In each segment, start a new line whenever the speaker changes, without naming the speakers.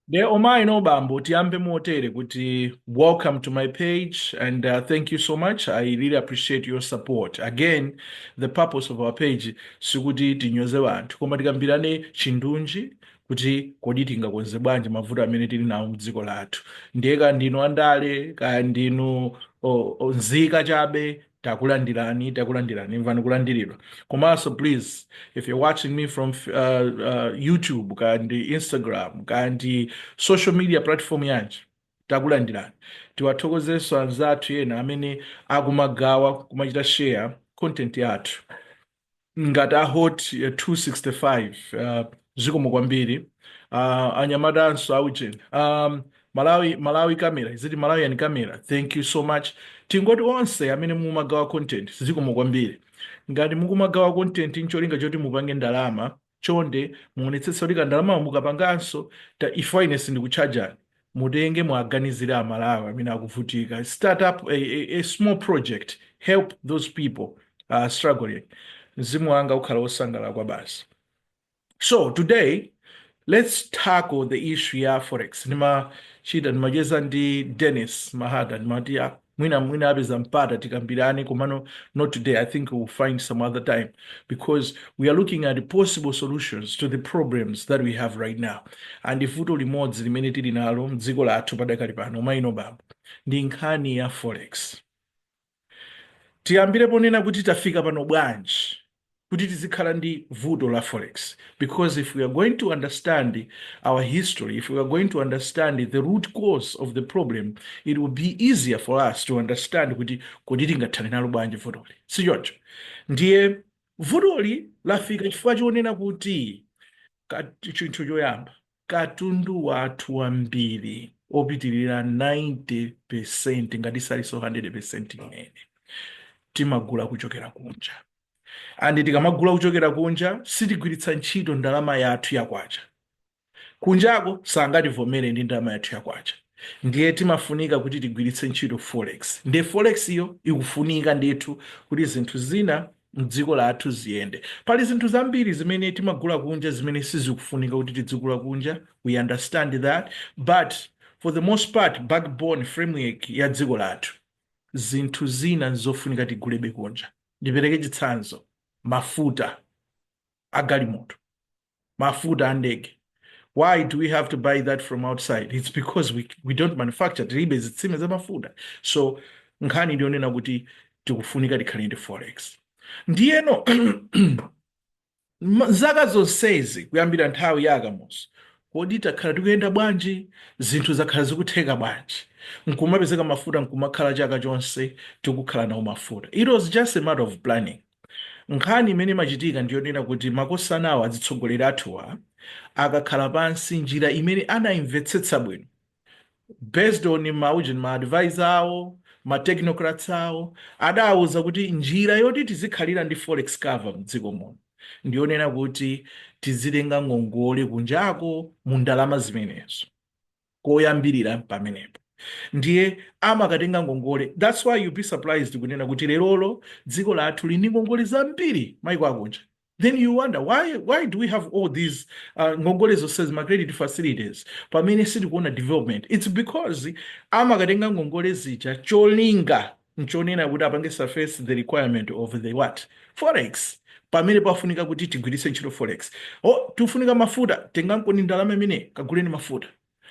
Dear amayi ndi abambo, tiyambe motere kuti, welcome to my page and uh, thank you so much. I really appreciate your support. Again, the purpose of our page sikuti tinyoze anthu koma tikambirane chindunji kuti kodi tingakonze bwanji mavuto amene tili nawo mdziko lathu ndiye kaya ndinu andale kaya ndinu o- o- nzika chabe takulandirani takulandirani imvani kulandiridwa komanso please if you're watching me from uh, uh, youtube kaya ndi instagram kaya ndi social media platform yanji takulandirani tiwathokozenso anzathu ena amene akumagawa kumachita share content yathu ngati a hot eh, 265 uh, zikomo kwambiri uh, anyamatanso aujeni um, malawi malawi camera is it malawian camera thank you so much tingoti onse amene mukumagawa content zikomo kwambiri ngati mukumagawa content ncholinga choti mupange ndalama chonde muonetsetse kuti kandalama mukapangako chifukwa ine sindikutchajani mutenge muwaganizire amalawi amene akuvutika start up a, a, a small project help those people uh, struggling mzimu wanga ukhala wosangalala kwabasi so today let's tackle the issue ya forex ndimachita ndimacheza ndi dennis mahada ndimati mwina mwina apeza mpata tikambirane komano not today i think we'll find some other time because we are looking at possible solutions to the problems that we have right now and vuto limodzi limene tili nalo mdziko lathu padakali pano amayi ndi abambo ndi nkhani ya forex tiyambire ponena kuti tafika pano bwanji kuti tizikhala ndi vuto la forex because if we are going to understand our history if we are going to understand the root cause of the problem it will be easier for us to understand kuti kodi tingathane nalo bwanji vutoli si choncho ndiye vutoli lafika chifukwa chonena kuti ka- chinthu choyamba katundu wathu wambiri opitirira 90% ngati salinso 100% amene timagula kuchokera kunja and tikamagula kuchokera kunja sitigwiritsa ntchito ndalama yathu yakwacha kunjako sangativomere ndi ndalama yathu yakwacha ndiye timafunika kuti tigwiritse ntchito forex ndiye forex iyo ikufunika ndithu kuti zinthu zina mdziko lathu ziyende. Pali zinthu zambiri zimene timagula kunja zimene sizikufunika kuti tidzigula kunja, we understand that but for the most part backbone framework ya dziko lathu zinthu zina nzofunika tigulebe kunja. Ndipereke chitsanzo, mafuta a galimoto. mafuta andege why do we have to buy that from outside it's because we, we don't manufacture tilibe zitsime za mafuta so nkhani ndiyonena kuti tikufunika tikhale ndi forex ndiyeno zaka zonsezi kuyambira nthawi ya a Kamuzu kodi takhala tikuyenda bwanji zinthu zakhala zikutheka bwanji nkumapezeka mafuta nkumakhala chaka chonse tikukhala nawo mafuta it was just a matter of planning Nkhani imene imachitika ndi yonena kuti makosana awo atsogoleri athuwa akakhala pansi njira imene anaimvetsetsa bwino based on ma ujeni ma advisor awo ma technocrats awo adawauza kuti njira yoti tizikhalira ndi forex cover mdziko muno ndi yonena kuti tizitenga ngongole kunjako mu ndalama zimenezo. kuyambira pamenepo ndiye amakatenga ngongole that's why you be surprised kunena kuti lerolo dziko lathu lili ndi ngongole zambiri maiko akunja then you wonder why why do we have all these uh, ngongole zonsezi ma credit facilities pamene sitikuona development it's because amakatenga ngongole zija cholinga nchonena kuti apange suffice the requirement of the what? Forex. Pamene pafunika kuti tigwiritse ntchito forex. Oh, tifunika mafuta, tengankoni ndalama imene kaguleni mafuta.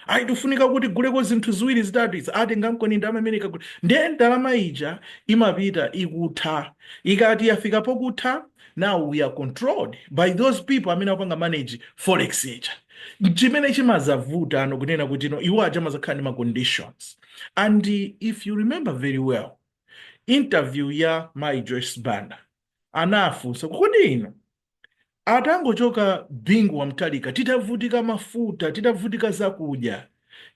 Ayi tifunika kuti tiguleko zinthu ziwiri zitatu izi, ah, tengankoni ndalama imene kagule. Ndiye ndalama ija imapita ikutha. Ikati yafika pokutha, now we are controlled by those people amene akupanga manage forex ija. Chimene chimazavuta tsano kunena kuti no, iwo aja amazakhala ndi ma conditions. and if you remember very well interview ya mai joyce banda anafunsa kodi inu atangochoka bingu wa mutharika titavutika mafuta titavutika zakudya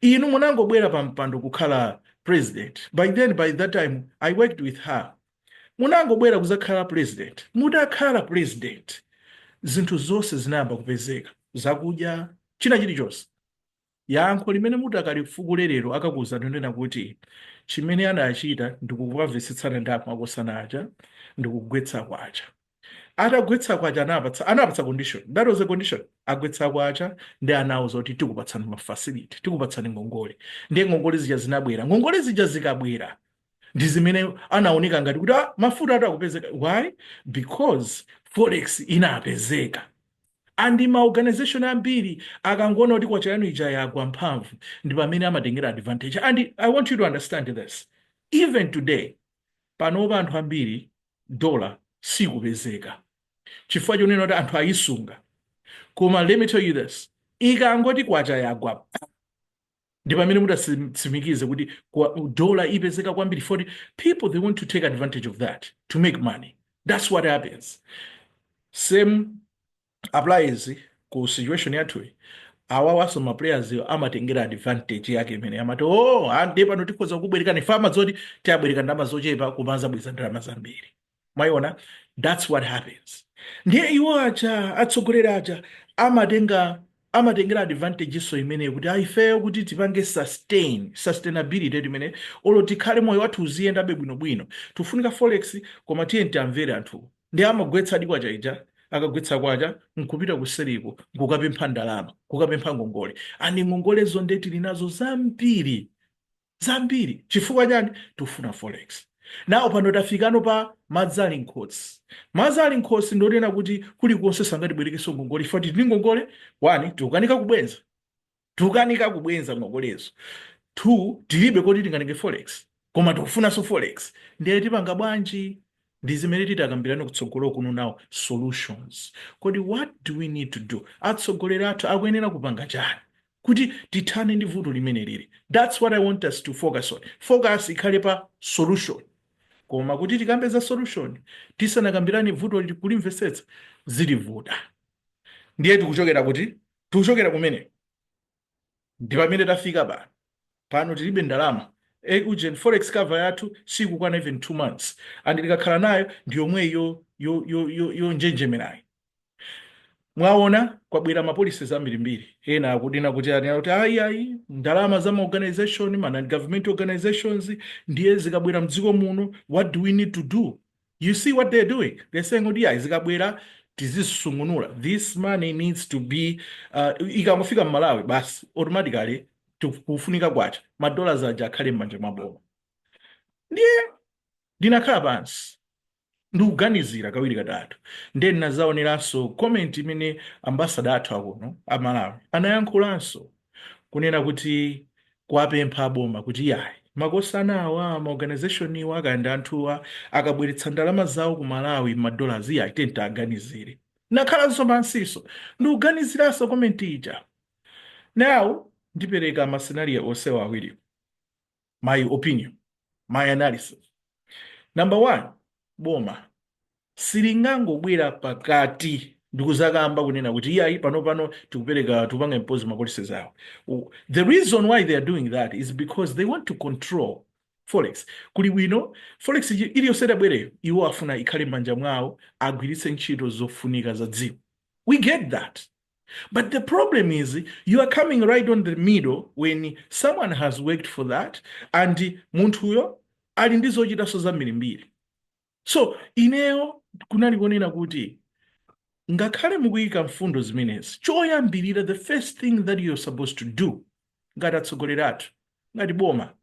inu munangobwera pa mpando kukhala president by then by that time i worked with her munangobwera kuzakhala president mutakhala president zinthu zonse zinayamba kupezeka zakudya china chilichonse Yankho limene mutakalifukule lero akakuuzani nchonena kuti chimene adachita ndikukamvetsetsana ndi amakosana aja ndikugwetsa kwacha. Atagwetsa kwacha anawapatsa anawapatsa condition that was the condition agwetsa kwacha ndiye anawauza kuti tikupatsani ma facility tikupatsani ngongole ndiye ngongole zija zinabwera ngongole zija zikabwera ndi zimene anaoneka ngati kuti ah, mafutatu akupezeka why because forex inapezeka And ma organization ambiri akangoona kuti kwacha yanu ija yagwa mphamvu ndi pamene amatengera advantage and i want you to understand this even today panopa anthu ambiri dollar sikupezeka chifukwa chonena kuti anthu ayisunga koma let me tell you this ikangoti kwacha yagwa ndi pamene mudatsimikize kuti dola ipezeka kwambiri for people they want to take advantage of that to make money that's what happens same applies ku situation yathuyi awawanso ma players amatengera advantage yake imene amati oh ande ah, pano tikhoza kubwerekani mfuma zoti tiwabwereka ndalama zochepa kumazabweza ndalama zambiri mwayiona thats what happens ndiye iwo aja atsogoleri aja amatenga amatengera advantage nso imeneyo kuti aifeyo kuti tipange sustain sustainability timene olo tikhale moyo wathu uziyendabe bwinobwino tifunika forex koma tiye tiwamvere anthu ndiye amagwetsa di kwacha ija akagwetsa kwacha nkupita kuseriko nkukapempha ndalama kukapempha ngongole and ngongolezo nde tili nazo zambiri zambiri chifukwa chani tikufuna forex now pano tafikano pa madzi ali mkhosi madzi ali mkhosi ndi onena kuti kulikonse sangatibwerekenso ngongole chifukwa tili ndi ngongole one tikukanika kubwenza tikukanika kubwenza ngongolezo two tilibe koti tingatenge forex koma tikufunanso forex ndiye tipanga bwanji ndi zimene titakambirane kutsogolo kuno now solutions kodi what do we need to do atsogoleri athu akuyenera kupanga chani kuti tithane ndi vuto limene liri that's what i want us to focus on focus ikhale pa solution koma kuti tikambe za solution tisanakambirane vuto kulimvesetsa zitivuta ndiye tikuchokera kuti tikuchokera kumene ndi pamene tafika pano pano tilibe ndalama e ujeni forex cover yathu sikukwana even two months and tikakhala nayo ndi yomweyi yonjenjemerayi Mwaona, kwabwera ma policies ambirimbiri. Ena akunena kuti anena kuti ayi ayi ndalama za ma organization ma non government organizations ndiye zikabwera mdziko muno what do we need to do? You see what they're doing? They're saying kuti ayi zikabwera tizisungunula. This money needs to be uh, ikangofika m'Malawi basi automatically kufunika kwacha ma dollars aja akhale m'manja mwa boma. Ndiye ndinakhala pansi ndikuganizira kawiri katatu nde ndinazaoneranso comment imene ambassador athu akuno a Malawi anayankhulanso kunena kuti kuwapempha aboma kuti iyayi makosana awa ma organisationwa kaya ndi anthuwa akabweretsa ndalama zawo ku Malawi ma dollars iyayi tiye tiwaganizire ndakhalanso pansinso ndikuganiziranso comment ija now ndipereka ma scenario onsewa awiriwo my opinion my analysis number one boma silingangobwera pakati ndikuzakamba kunena kuti iyayi pano pano tikupereka tikupanga impose ma policies awo U- the reason why they are doing that is because they want to control forex kuli bwino forex iji- iliyonse itabwereyo iwo afuna ikhale m'manja mwawo agwiritse ntchito zofunika za dziko we get that But the problem is you are coming right on the middle when someone has worked for that and munthuyo ali ndi zochitanso zambirimbiri. So ineyo kunali konena kuti ngakhale mukuyika mfundo zimenezi choyambirira the first thing that you're supposed to do ngati atsogoleri athu ngati boma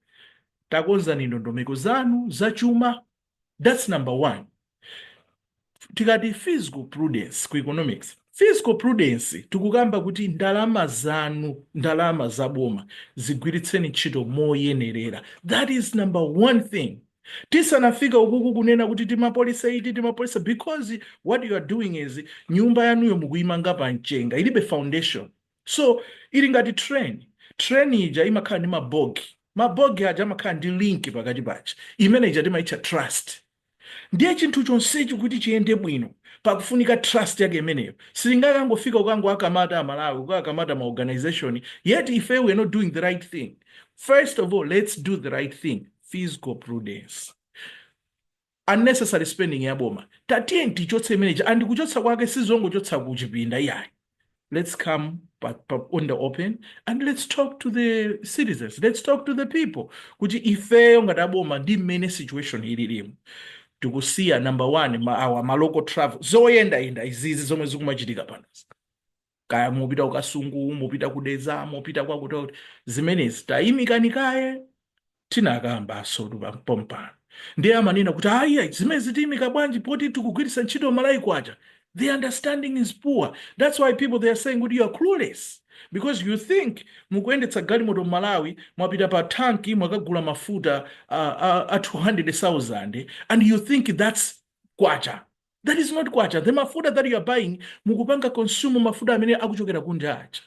takonzani ndondomeko zanu zachuma That's number one. Tikati fiscal prudence ku economics, fiscal prudence tikukamba kuti ndalama zanu, ndalama za boma zigwiritseni ntchito moyenerera. That is number one thing. Tisanafika ukuku kunena kuti tima policy iti tima policy because what you are doing is nyumba yanuyo mukuyimanga pa mchenga ilibe foundation. so ili ngati train train ija imakhala ndi mabogi mabogi aja amakhala ndi link pakati paja imene ija timaitcha trust ndiye chinthu chonsechi kuti chiyende bwino pakufunika trust yake imeneyo silingakangofika ukango akamata amalawi kukakamata ma organization yet ife we are not doing the right thing first of all let's do the right thing fiscal prudence unnecessary spending ya boma tatiyeni tichotse imeneja and kuchotsa kwake sizongochotsa ku chipinda iyayi let's come pa, pa, on the open and let's talk to the citizens let's talk to the people kuti ifeyo ngati aboma ndi mmene situation ililimu tikusiya number one ma, awa ma local travel zoyendayenda izizi zomwe zikumachitika panozi kaya mupita ku Kasungu, mupita ku Dedza, mupita kwakuti kwakuti, zimenezi tayimikani kaye tinakambanso pompano ndiye amanena kuti ayi ayi, zimenezi tiyimika bwanji poti tikugwiritsa ntchito Malawi kwacha the understanding is poor that's why people they are saying kuti you are clueless because you think mukuyendetsa galimoto m'malawi mwapita pa tanki mwakagula mafuta a, a, a 200000 and you think that's kwacha that is not kwacha the mafuta that you are buying mukupanga consume mafuta amene akuchokera kunja aja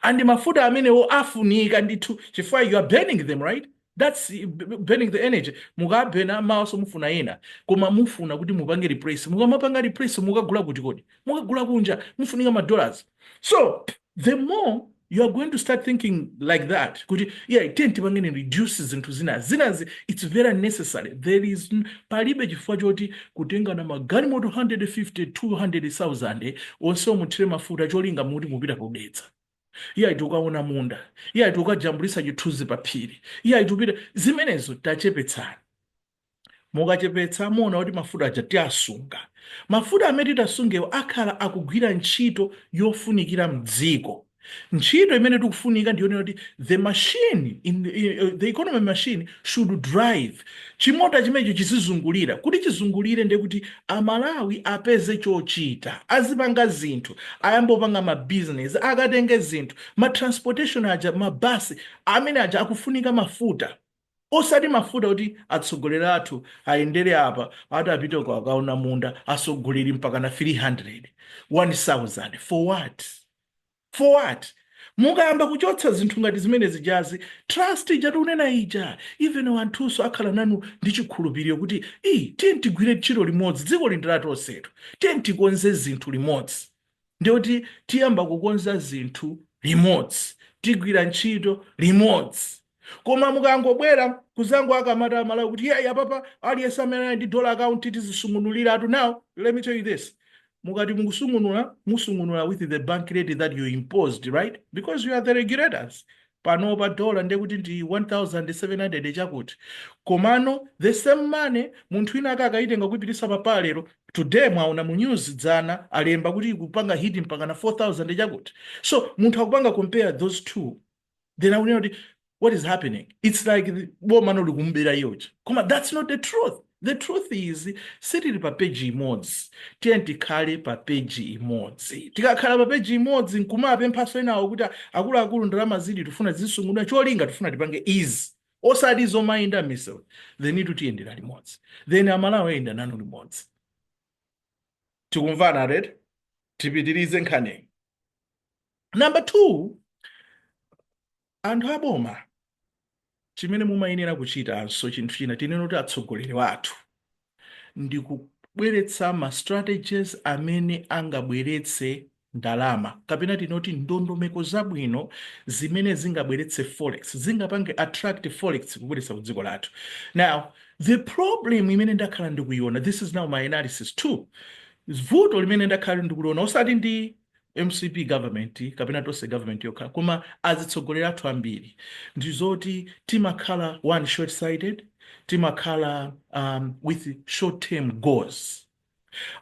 and mafuta amenewo afunika ndithu chifukwa you are burning them right that's eh, b- b- burning the energy mukabena mawanso mufuna ena koma mufuna kuti mupange replace mukamapanga replace mukagula kuti kodi mukagula kunja mufunika madollars so The more you are going to start thinking like that kuti yeah tiyeni tipangeni reduce zinthu zina zinazi it's very necessary there is n- palibe chifukwa choti kutengana magalimoto 150 200000 onse omuthire mafuta cholinga muti mupita ku Dedza iyayi tukaona munda iyayi tukajambulitsa chithunzi pa phiri iyayi tupita zimenezo tachepetsani mukachepetsa muona kuti mafuta aja tiasunga mafuta amene titasungewo akhala akugwira ntchito yofunikira mdziko ntchito imene tikufunika ndi yoona kuti the machine in the, in the economy machine should drive chimota chimenecho chizizungulira kuti chizungulire ndiye kuti amalawi apeze chochita azipanga zinthu ayamba opanga mabizinesi akatenge zinthu matransportation aja mabasi amene aja akufunika mafuta Osati mafuta kuti atsogoleri athu ayendere apa, ati apite uko akaona munda, atsogoleri mpakana 300, 1000, for what? For what? Mukayamba kuchotsa zinthu ngati zimene zijazi, trust ija tikunena ija, even wanthunso akhala nanu ndi chikhulupiriro kuti, ii, tiyeni tigwire ntchito limodzi, dzikoli ndi la tonsetu, tiyeni tikonze zinthu limodzi. Ndiye kuti tiyamba kukonza zinthu limodzi, tigwira ntchito limodzi. Koma mukangobwera kuzangowakakamiza a Malawi kuti iyayi apapa aliyense amene ali ndi dollar account tizisungunulira ku now let me tell you this mukati mukusungunula mumasungunula with the bank rate that you imposed right because you are the regulators panopa dollar ndiye kuti ndi 1700 chakuti komano the same money munthu wina ake akakayitenga kuipitisa pa paa lero today mwaona mu news dzana alemba kuti ikupanga hit mpaka na 4000 chakuti so munthu akupanga compare those two then akunena kuti what is happening it's like the- boma no likumubera iyeyo koma that's not the truth The truth is sitili pa page imodzi tiyeni tikhale pa page imodzi tikakhala pa page imodzi nkumawapemphanso enawo kuti akuluakulu ndalamazitu tifuna zisungunuka cholinga tifuna tipange izi osati zomayenda miseri then tutiyendera limodzi then amalawi ayenda nanu limodzi tikumvana red tipitirize nkhani number two Anthu a boma, chimene mumayenera kuchitanso, chinthu china, tinene kuti atsogoleri wathu, ndi kubweretsa ma strategies amene angabweretse ndalama, kapena tinene kuti ndondomeko zabwino zimene zingabweretse forex, zingapange attract forex kubweretsa ku dziko lathu. Now, the problem imene ndakhala ndikuiona, this is now my analysis too, vuto limene ndakhala ndikuliona osati ndi. mcp government kapena tonse government yokha koma azitsogoleri athu ambiri ndi zoti timakhala one short sighted timakhala um, with short term goals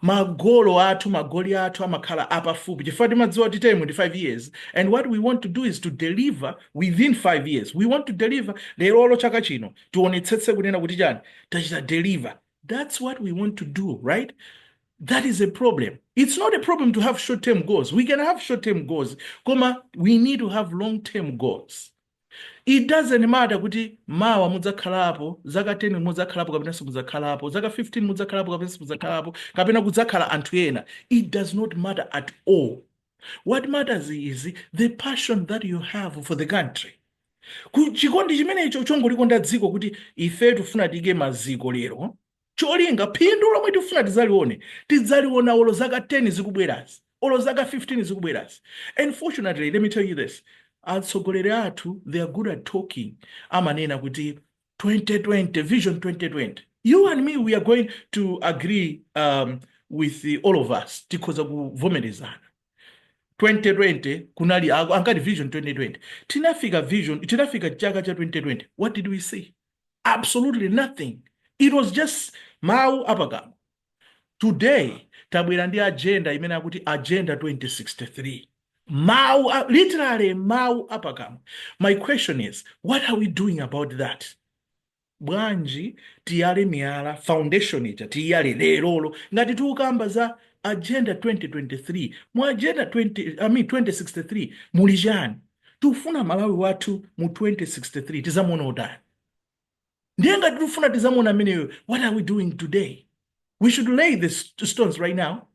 magolo athu magoli athu amakhala apafupi chifukwa timadziwa kuti time ndi 5 years and what we want to do is to deliver within 5 years we want to deliver leroli chaka chino tionetsetse kunena kuti chani tachita deliver that's what we want to do right that is a problem it's not a problem to have short term goals we can have short term goals koma we need to have long term goals it doesn't matter kuti mawa mudzakhalapo zaka 10 mudzakhalapo kapena simudzakhalapo zaka 15 mudzakhalapo kapena simudzakhalapo kapena kudzakhala anthu ena it does not matter at all what matters is the passion that you have for the country Ku- chikondi chimenecho chongolikonda dziko kuti ife tifuna tiike maziko lero Cholinga, phindu lomwe tifuna tidzalione, tidzaliona olo zaka 10 zikubwerazi, olo zaka 15 zikubwerazi. Unfortunately, let me tell you this, atsogoleri athu, they are good at talking, amanena kuti 2020, vision 2020. You and me, we are going to agree um, with all of us, tikhoza kuvomerezana. 2020 kunali, ankati vision 2020. Tinafika vision, tinafika chaka cha 2020. What did we see? absolutely nothing it was just mawu apakamwa today tabwera ndi agenda imene akuti agenda 2063 mawu a- literally mawu apakamwa my question is what are we doing about that bwanji tiyale miyala foundation ija tiyale lerolo ngati tukamba za agenda 2023 mu agenda 20, I mean 2063 muli chani Tikufuna Malawi wathu mu 2063 tizamuona otani? Ndiye ngati tikufuna tizamuona ameneyo, what are we doing today? We should lay the stones right now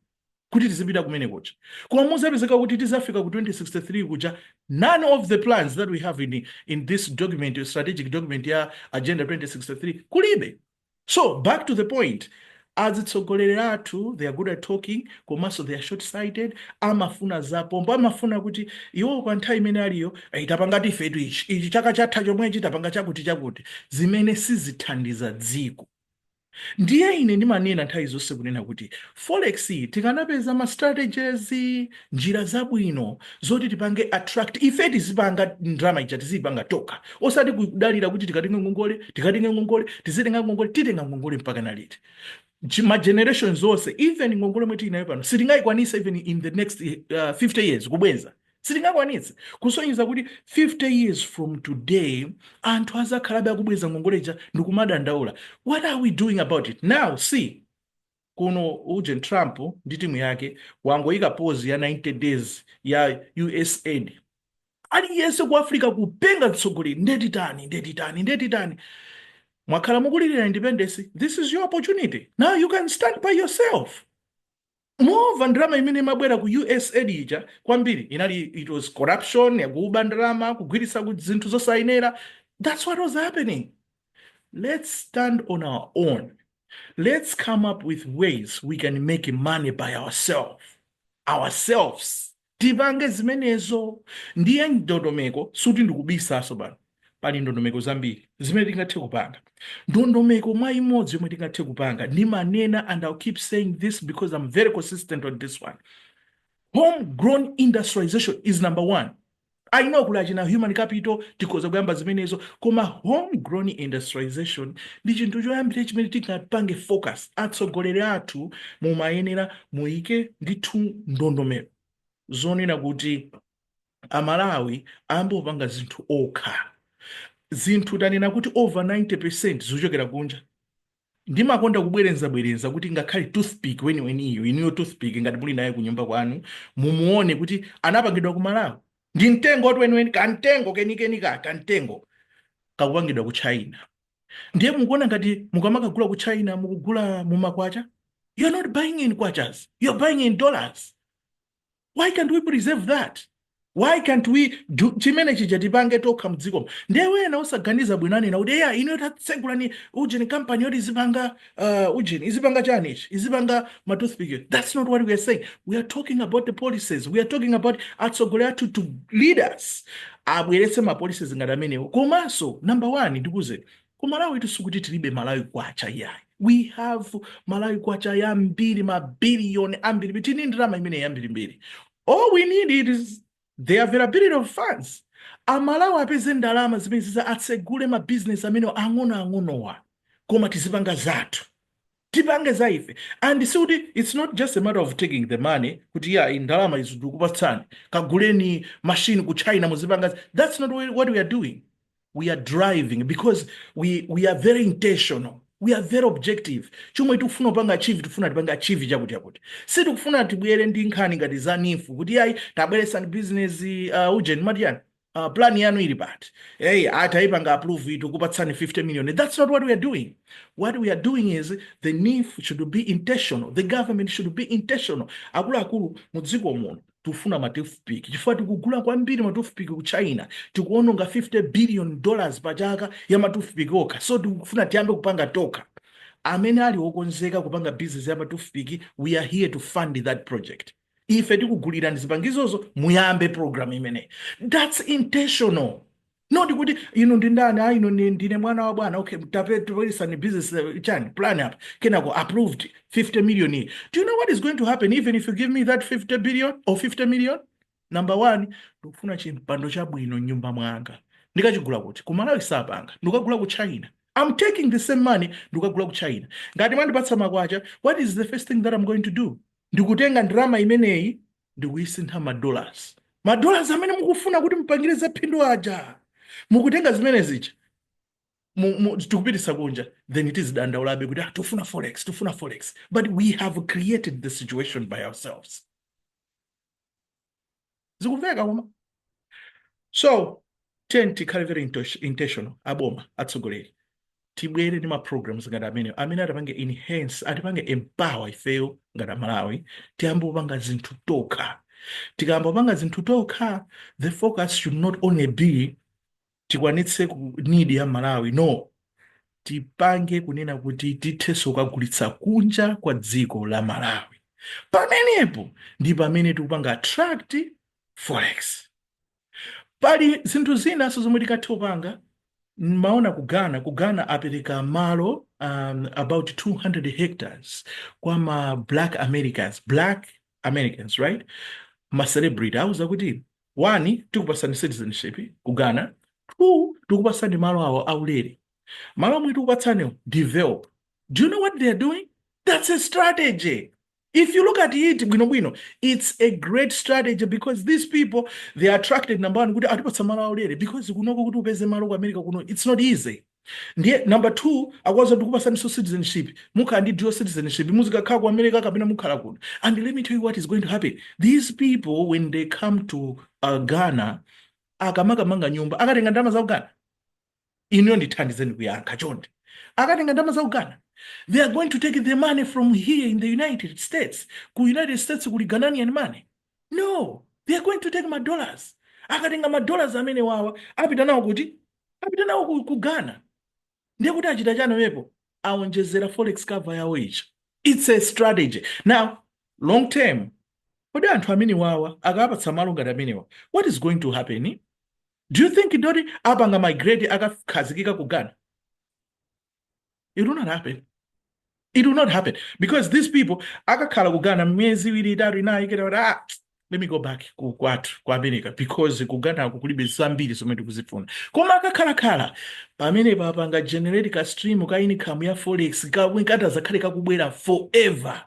kuti tizipita kumene kuja. Koma muzapezeka kuti tizafika ku 2063 kuja none of the plans that we have in, in this document, strategic document ya Agenda 2063 kulibe. So back to the point, azitsogoleri athu they are good at talking komanso they are short sighted, amafuna zapompo, amafuna kuti iwo pa nthawi imene aliyo eh, tapanga tifetu ichi ichi chaka chatha chomwechi tapanga chakuti chakuti, zimene sizithandiza dziko. Ndiye ine ndimanena nthawi zonse kunena kuti forex iyi tikanapeza ma strategies njira zabwino zoti tipange attract ife tizipanga ndalama ija tiziyipanga tokha osati kudalira kuti tikatenge ngongole tikatenge ngongole tizitenga ngongole titenga ngongole mpaka liti Chi- ma generations onse even ngongole yomwe tili nayo pano sitingayikwanitse even in the next uh, 50 years kubwenza sitingakwanitse kusonyeza kuti 50 years from today anthu azakhalabe akubwenza ngongole ija ndikumadandaula what are we doing about it now see Kuno ujeni Trump ndi timu yake wangoika pause ya 90 days ya usaid. Aliyense ku Africa kupenga mtsogoleri nde titani nde titani nde titani. Mwakhala mukulilira independence, this is your opportunity. Now you can stand by yourself. Moreover, ndalama imene imabwera ku usaid ija kwambiri inali it was corruption yakuba ndalama kugwiritsa ku zinthu zosayenera. That's what was happening. Let's stand on our own. let's come up with ways we can make money by ourselves ourselves tipange zimenezo ndiye ndondomeko suti ndikubisanso pano pali ndondomeko zambiri zimene tingathe kupanga ndondomeko mwa imodzi yomwe tingathe kupanga ndimanena and ill keep saying this because i'm very consistent on this one homegrown industrialization is number one I know kuli achina human capital tikhoza kuyamba zimenezo koma homegrown industrialization ndi chinthu choyambira chimene tingapange focus atsogoleri athu mumayenera muike ndithu ndondomeko zonena kuti amalawi ayambe kupanga zinthu okha zinthu tanena kuti over 90 percent zochokera kunja Ndimakonda kubwerezabwereza kuti ngakhale toothpick weniweniyo, inuyo toothpick ngati muli naye kunyumba kwanu, mumuone kuti anapangidwa ku Malawi. Ndi mtengotu weniweni, kamtengo kenikeni ka kamtengo kakupangidwa ku China. Ndiye mukuona ngati mukamakagula ku China mukugula mumakwacha? You're not buying in kwachas, you're buying in dollars. why can't we preserve that why can't we do chimene chija tipange tokha m'dzikomo ndiye wina osaganiza bwino anena kuti eya inuyo tatsegulani ujeni kampani yoti izipanga uh, ujeni izipanga chani ichi izipanga matoothpick that's not what we are saying we are talking about the policies we are talking about atsogoleri athu to lead us abweretse ma policies ngati amenewo komanso number one ndikuuzeni Ku Malawitu sikuti tilibe Malawi kwacha iyayi. We have Malawi kwacha yambiri ma billion ambirimbiri. Tili ndi ndalama imeneyi yambirimbiri. All we need is the availability of funds. Amalawi apeze ndalama zimenezi kuti atsegule ma business amene ang'onoang'onowa koma tizipanga zathu. tipange za ife and sikuti its not just a matter of taking the money kuti iyayi ndalama izi tikupatsani kaguleni machine ku china muzipanga zi-" that's not wh- what we are doing we are driving because we, we are very intentional we are very objective chomwe tikufuna kupanga achieve tikufuna tipange achieve chakuti chakuti sitikufuna tibwere ndi nkhani ngati za NEEF kuti ayi tabweretsani business uh, ujeni matiyani Uh, plan yanu ili pati hey, ataipanga approve tikupatsani 50 million that's not what we are doing what we are doing is the NEEF should be intentional the government should be intentional akuluakulu mu dziko muno tufuna ma toothpick chifukwa tikugula kwambiri ma toothpick ku china tikuononga 50 billion dollars pa chaka ya ma toothpick okha so tikufuna tiyambe kupanga tokha amene ali okonzeka kupanga business ya ma toothpick we are here to fund that project ife tikugulirani zipangizo zo muyambe program imeneyi that's intentional not kuti inu ndi ndani a inu ndi- ndine mwana wa bwana okay tapatseni business eh, chani plan apo kenako approved 50 million iyi do you know what is going to happen even if you give me that 50 billion or 50 million number one ndikufuna chimpando chabwino mnyumba mwanga ndikachigula kuti ku malawi sapanga ndikagula ku china i'm taking the same money ndikagula ku china ngati mwandipatsa makwacha what is the first thing that i'm going to do ndikutenga ndalama imeneyi ndikuyisintha ma dollars ma dollars amene mukufuna kuti mupangire za phindu aja mukutenga zimene zija mu- mu- tikupitisa kunja then tizidandaulabe kuti ah, tufuna forex tufuna forex but we have created the situation by ourselves zikumveka koma so tiyeni tikhale very intosh- intentional aboma atsogoleri tibwere ndi ma programs ngati amenewo amene atipange enhance atipange empower ifeyo ngati amalawi tiyambe kupanga zinthu tokha tikayamba kupanga zinthu tokha the focus should not only be tikwanitse ku need ya Malawi no tipange kunena kuti tithenso kukagulitsa kunja kwa dziko la Malawi pamenepo ndi pamene tikupanga attract forex pali zinthu zinanso zomwe tikathe kupanga mwaona ku Ghana ku Ghana apereka malo um, about 200 hectares kwa ma black Americans black Americans right ma celebrity auza kuti One, tikupatsani citizenship ku Ghana. Two, tikupatsani malo awa aulere. Malo omwe tikupatsaniwo, develop. Do you know what they are doing? That's a strategy. If you look at it bwino bwino, it's a great strategy because these people they are attracted number one kuti atipatsa malo aulere because kunoko kuti upeze malo ku America kuno it's not easy. Ndiye number 2 akuwauza tikupasaninso citizenship mukhala ndi dual citizenship muzikakhala ku America kapena mukhala kuno and let me tell you what is going to happen these people when they come to uh, Ghana akamakamanga nyumba akatenga ndalama za ku Ghana inuyo ndithandizeni kuyankha chonde akatenga ndalama za ku Ghana they are going to take the money from here in the United States ku United States kuli Ghanaian money no they are going to take ma dollars akatenga ma dollars amene wawa apita nawo kuti apita nawo ku, ku ghana ndiye kuti achita chani pamenepo aonjezera forex cover yawo ichi it's a strategy now long term kodi anthu amene wawa akawapatsa malo ngati amenewa what is going to happen do you think that apanga migrate akakhazikika ku ghana it will not happen it will not happen because these people akakhala ku ghana miyezi iwiri itatu inayi kenako ati ah, let me go back ku kwathu ku america because ku ghanako kulibe zambiri zomwe tikuzifuna koma akakhalakhala pamene papanga generate ka stream ka income ya forex kamwe katadzakhale kakubwera forever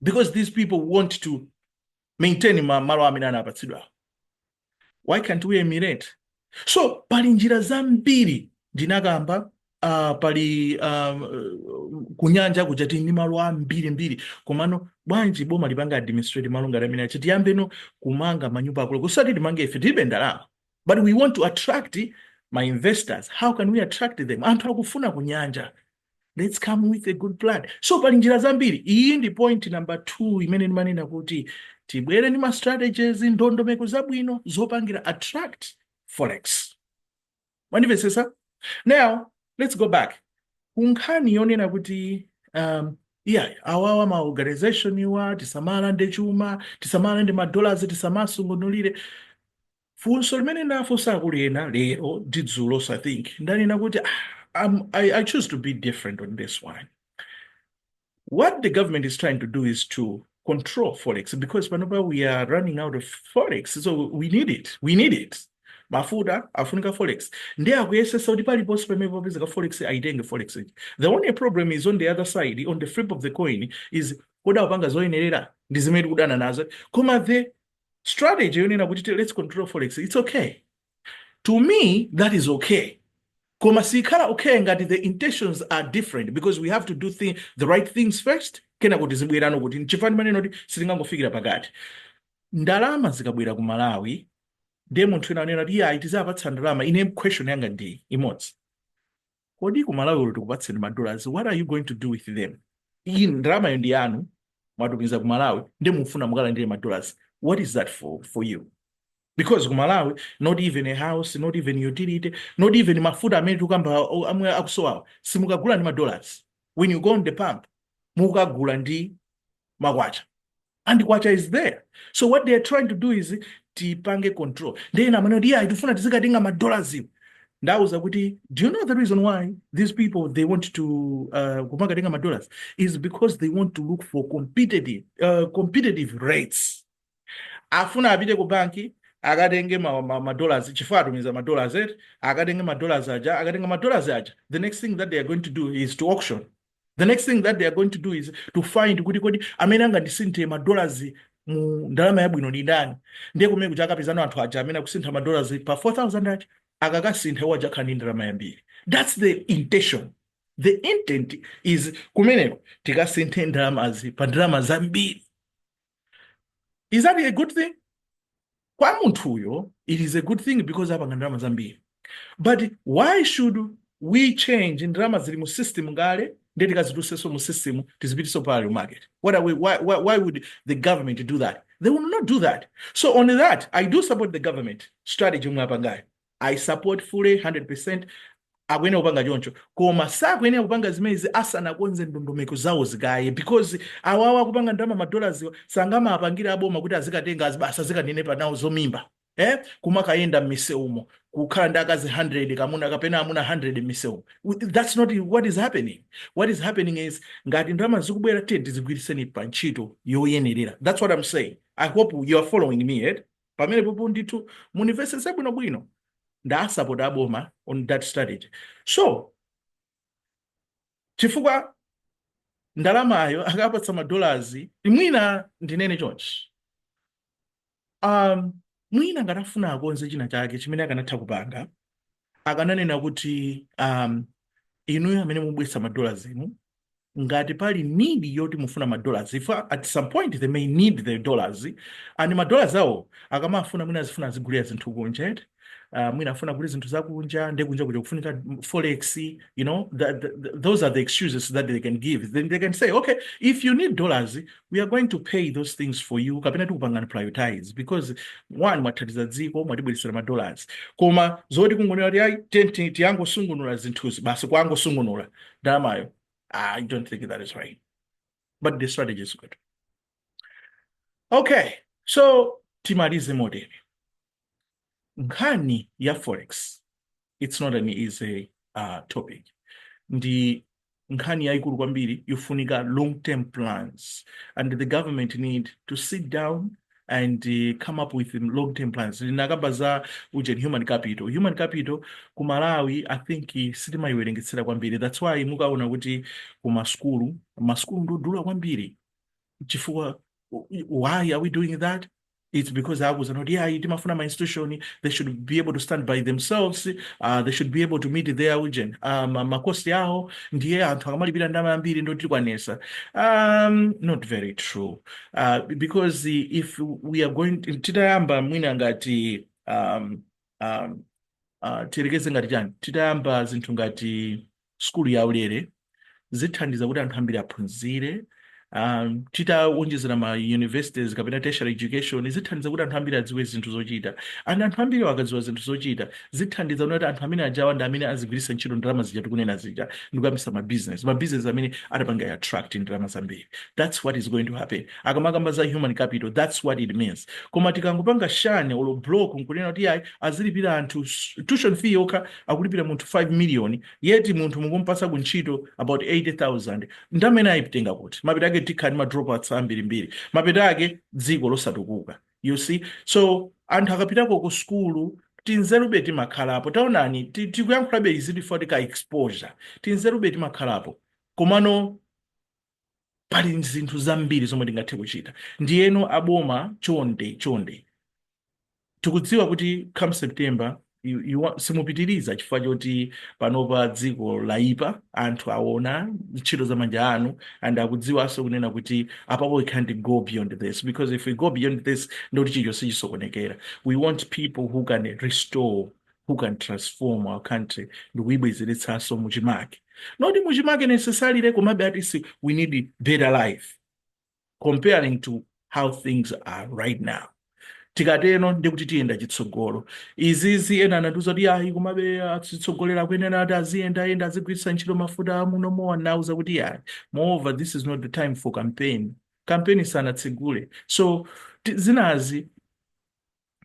because these people want to maintain ma- malo amene anapatsidwawo why can't we emulate so pali njira zambiri ndinakamba uh, pali um, kunyanja kuja tili ndi malo ambirimbiri komano bwanji boma lipanga administrate malo ngati amene aja tiyambeno kumanga manyumba akulu osati timange ife tilibe ndalama but we want to attract ma investors how can we attract them anthu akufuna kunyanja let's come with a good plan so pali njira zambiri iyi ndi point number 2 imene ndimanena kuti tibwere ndi ma strategies ndondomeko zabwino zopangira attract forex mwandimvetsetsa now let's go back kunkhani yonena kuti um, yeah awawa ma organization awa tisamalande chuma tisamalande madollars tisamasungunulire Funso limene ndinafunsa akulu ena lero ndi dzulo so I think ndanena kuti ah, I'm, I, I choose to be different on this one. What the government is trying to do is to control forex because panopa we are running out of forex so we need it we need it mafuta afunika forex ndiye akuyesetsa kuti paliponse pamene popezeka forex aitenge forex ija. the only problem is on the other side on the flip of the coin is kodi akupanga zoyenerera ndi zimene tikudana nazo koma the strategy yonena kuti let's control forex it's okay to me that is okay koma sikhala okay ngati the intentions are different because we have to do thing, the right things first kenako tizibwerano kuti nchifukwa ndimanena kuti sitingangofikira pakati ndalama zikabwera ku malawi ndiye munthu wina anena kuti iyayi tidzawapatsa ndalama ine question yanga ndi imodzi Kodi ku Malawi olo tikupatseni ma dollars what are you going to do with them? Iyi ndalamayo ndi yanu mwatumiza ku Malawi nde mufuna mukalandire ma dollars what is that for, for you? Because ku Malawi not even a house, not even utility, not even mafuta amene tikukamba o- amwe akusowawa simukagula ndi ma dollars. When you go on the pump mukagula ndi makwacha. and kwacha is there so what they are trying to do is tipange control ndiye ina amene kuti yeah tifuna tizikatenga madollars ndauza kuti do you know the reason why these people they want to uh, kumakatenga madollars is because they want to look for competitive, uh, competitive rates afuna apite ku banki akatenge ma- ma- madollars chifukwa atumiza madollars eti akatenge madollars aja akatenga madollars aja the next thing that they are going to do is to auction the next thing that they are going to do is to find kuti kodi amene angandisinthe madollars mu ndalama yabwino ndi ndani ndiye kumene kuti akapezana anthu aja amene akusintha madollars pa 4000 aja akakasintha iwo aja akhala ndi ndalama yambiri that's the intention the intent is kumeneko tikasinthe ndalamazi pa ndalama zambiri is that a good thing kwa munthuyo it is a good thing because apanga ndalama zambiri but why should we change ndalama zili mu system kale ndiye tikazitulutsenso mu system tizipititsenso parallel market what are we, why, why, why would the government do that they will not do that so on that i do support the government strategy yomwe apangayo i support fully 100% akuyenera kupanga choncho koma sakuyenera kupanga zimenezi asanakonze ndondomeko zawo zikaye because awawa akupanga ndalama madollarziwa sangamapangire aboma kuti azikatenga azi- basi azikanenepa nawo zomimba eh kumakayenda m'misewumo kukhala ndi akazi 100 kamuna kapena amuna 100 m'misewumo W- that's not what is happening what is happening is ngati ndalama zikubwera tiyeni tizigwiritseni pa ntchito yoyenerera that's what i'm saying i hope you are following me eh? pamenepopo ndithu mundimvetsetse bwinobwino ndawasapota aboma on that strategy so chifukwa ndalamayo akapatsa madollars mwina ndinene chonchi um, mwina ngati afuna akonze china chake chimene akanatha kupanga akananena kuti um, inuyo amene mubweretsa ma dollars inu ngati pali need yoti mufuna ma dollars if at some point they may need the dollars and ma dollars awo akamafuna mwina azifuna azigulira zinthu kunja eti uh, mwina afuna kugula zinthu zakunja nde kunja kuja kufunika forex you know that, that, those are the excuses that they can give then they can say okay if you need dollars we are going to pay those things for you kapena tikupangani prioritize because one mwathandiza dziko mwatibweretsera ma dollars koma zoti kungonena kuti ayi tsent tingosungunula zinthuzi basi kungosungunula ndalamayo i don't think that is right but the strategy is good okay so timalize motero nkhani ya forex it's not an easy uh, topic ndi nkhani yayikulu kwambiri yofunika long term plans and the government need to sit down and uh, come up with long term plans ndinakamba za ujeni human capital human capital ku malawi i think eh, sitimayiwerengetsera kwambiri that's why mukaona kuti ku masukulu masukulu ndodula kwambiri chifukwa why are we doing that it's because akuuzana kuti ayi timafuna ma institution they should be able to stand by themselves uh, they should be able to meet their ujeni uh, ma- makosi awo ndiye anthu akamalipira ndalama yambiri nde tikwanitsa um, not very true uh, because if we are going titayamba mwina ngati um, um, uh, tiyerekeze ngati chani titayamba zinthu ngati sukulu yaulere zithandiza kuti anthu ambiri aphunzire um, titawonjezera ma universities kapena tertiary education zithandiza kuti anthu ambiri adziwe zinthu zochita and anthu ambiri akadziwa zinthu zochita zithandiza kunena kuti anthu amene ajawa ndi amene azigwiritsa ntchito ndalama zija tikunena zija ndikuyambisa ma business ma business amene atapanga attract ndalama zambiri that's what is going to happen akamakamba za human capital that's what it means koma tikangopanga shun olo block nkunena kuti ayi azilipira anthu s- tuition fee yokha akulipira munthu 5 million yet munthu mukumpasa ku ntchito about 80000 ndamene ayitenga kuti mapeto ake tikhala ndi ma dropouts ambirimbiri mapeto ake dziko losatukuka you see so anthu akapitako ku sukulu tinzerube timakhalapo taonani ti- tikuyankhulabe izi chifukwa tika exposure tinzerube timakhalapo komano pali zinthu zambiri zomwe tingathe kuchita ndiyeno aboma chonde chonde tikudziwa kuti come september you, you won't, simupitiriza chifukwa choti panopa dziko layipa anthu aona ntchito za manja anu and akudziwanso kunena kuti apapo we can't go beyond this because if we go beyond this ndoti chilichonse chisokonekera we want people who can restore who can transform our country ndikuyibwezeretsanso muchimake not muchimake necessarily komabe at least we need better life comparing to how things are right now tikateno ndikuti tiyenda chitsogolo izizi ena anatiuza kuti ayi komabe atsogoleri akuyenera ati aziyendayenda azigwiritsa ntchito mafuta amuno mowa nauza kuti yayi moreover this is not the time for campaign campaign sanatsegule so zinazi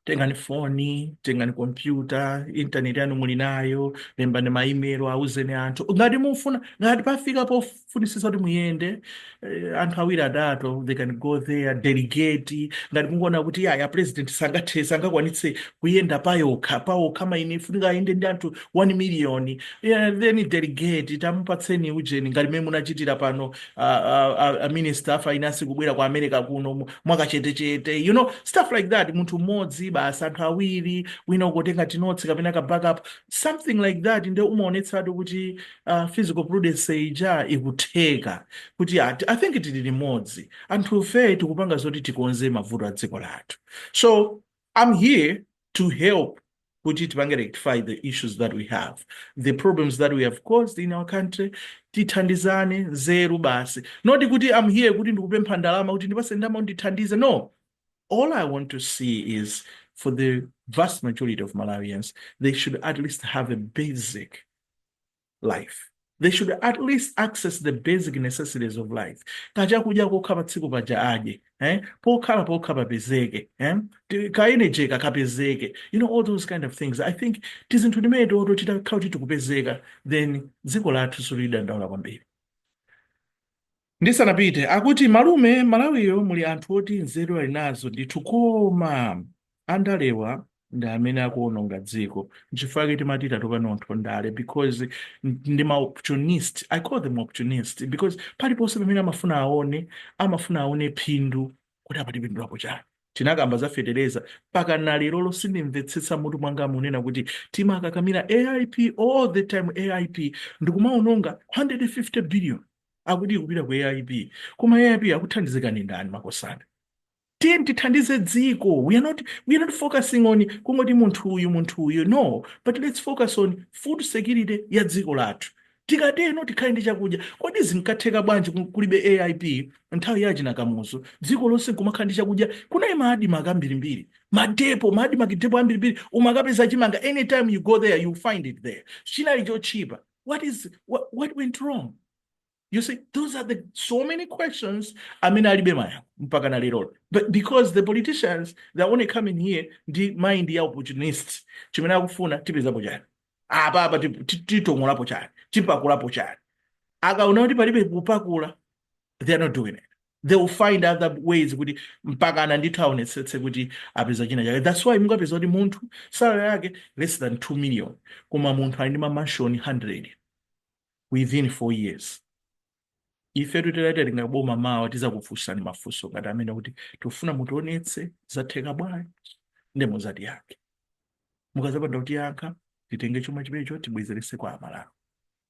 tengani foni tengani kompyuta intaneti yanu muli nayo lembani ma email auzeni anthu ngati mufuna ngati pafika pofunisisa kuti muyende eh, anthu awiri atatu they can go there delegate ngati mukuona kuti ayi a president sangathe sangakwanitse kuyenda payokha pawokha mwina ifunika ayende ndi anthu 1 million yeah, then delegate tamupatseni ujeni ngati mmene munachitira pano a, a, a, a minister a finance kubwera ku america kuno mu- mwakachetechete you know stuff like that munthu mmodzi basi anthu awiri wina akutenga tinotsi kapena ka backup something like that nde umaonetsatu kuti uh, fiscal prudence ija ikutheka kuti ati i think tili limodzi anthufe tikupanga zoti tikonze mavuto a dziko lathu so I'm here to help kuti tipange rectify the issues that we have the problems that we have caused in our country tithandizane nzeru basi not kuti I'm here kuti ndikupempha ndalama kuti ndipase ndalama ndithandize no all i want to see is for the vast majority of malawians they should at least have a basic life they should at least access the basic necessities of life kachakudya kokha pa tsiku paja adye eh? pokhala pokha papezeke eh? ka energy kakapezeke you know all those kind of things i think tizinthu timene toto titakhala kuti tikupezeka then dziko lathu silidandaula kwambiri Ndisanapite akuti malume Malawiyo muli anthu oti nzeru ali nazo ndithu koma andalewa ndi amene akuononga dziko nchifukwa chake timati tatopa nazo ndale because ndi ma opportunist I call them opportunist because paliponse pamene amafuna aone amafuna aone phindu kuti apa tipindulapo chani tinakamba za fetereza mpaka na lero sindimvetsetsa mutu mwanga munena kuti timakakamira AIP all the time AIP nkumaononga 150 billion akuti ikupita ku aip koma aip akuthandizika ndi ndani makosana tiyeni tithandize dziko we are not, we are not focusing on kungoti munthu uyu munthu uyu no but let's focus on food security ya dziko lathu tikateno tikhale ndi chakudya kodi zinkatheka bwanji ku- kulibe aip nthawi ya achina kamuzu dziko lonse nkumakhala ndi chakudya kunali ma ADMARC ambirimbiri madepo ma ADMARC depo ambirimbiri umakapeza chimanga anytime you go there you find it there chinali chotchipa what is what, what went wrong you see those are the so many questions amene alibe mayankho mpaka na lero but because the politicians they're only coming here ndi mind ya opportunist chimene akufuna tipezapo chani apa apa ti- ti- titongolapo chani tipakulapo chani akaona kuti palibe kupakula they are not doing it they will find other ways kuti mpakana ndithu aonetsetse kuti apeza china chake that's why mungapeza kuti munthu salary yake less than 2 million koma munthu ali ndi mamanshoni 100 within 4 years ife titati tili mu boma mawa tizakufunsani mafunso ngati amene kuti tikufuna mutionetse zatheka bwanji ndi mizati yake mukazapanda kutiyankha titenge chuma chimenecho tibwezerese kwa amalawi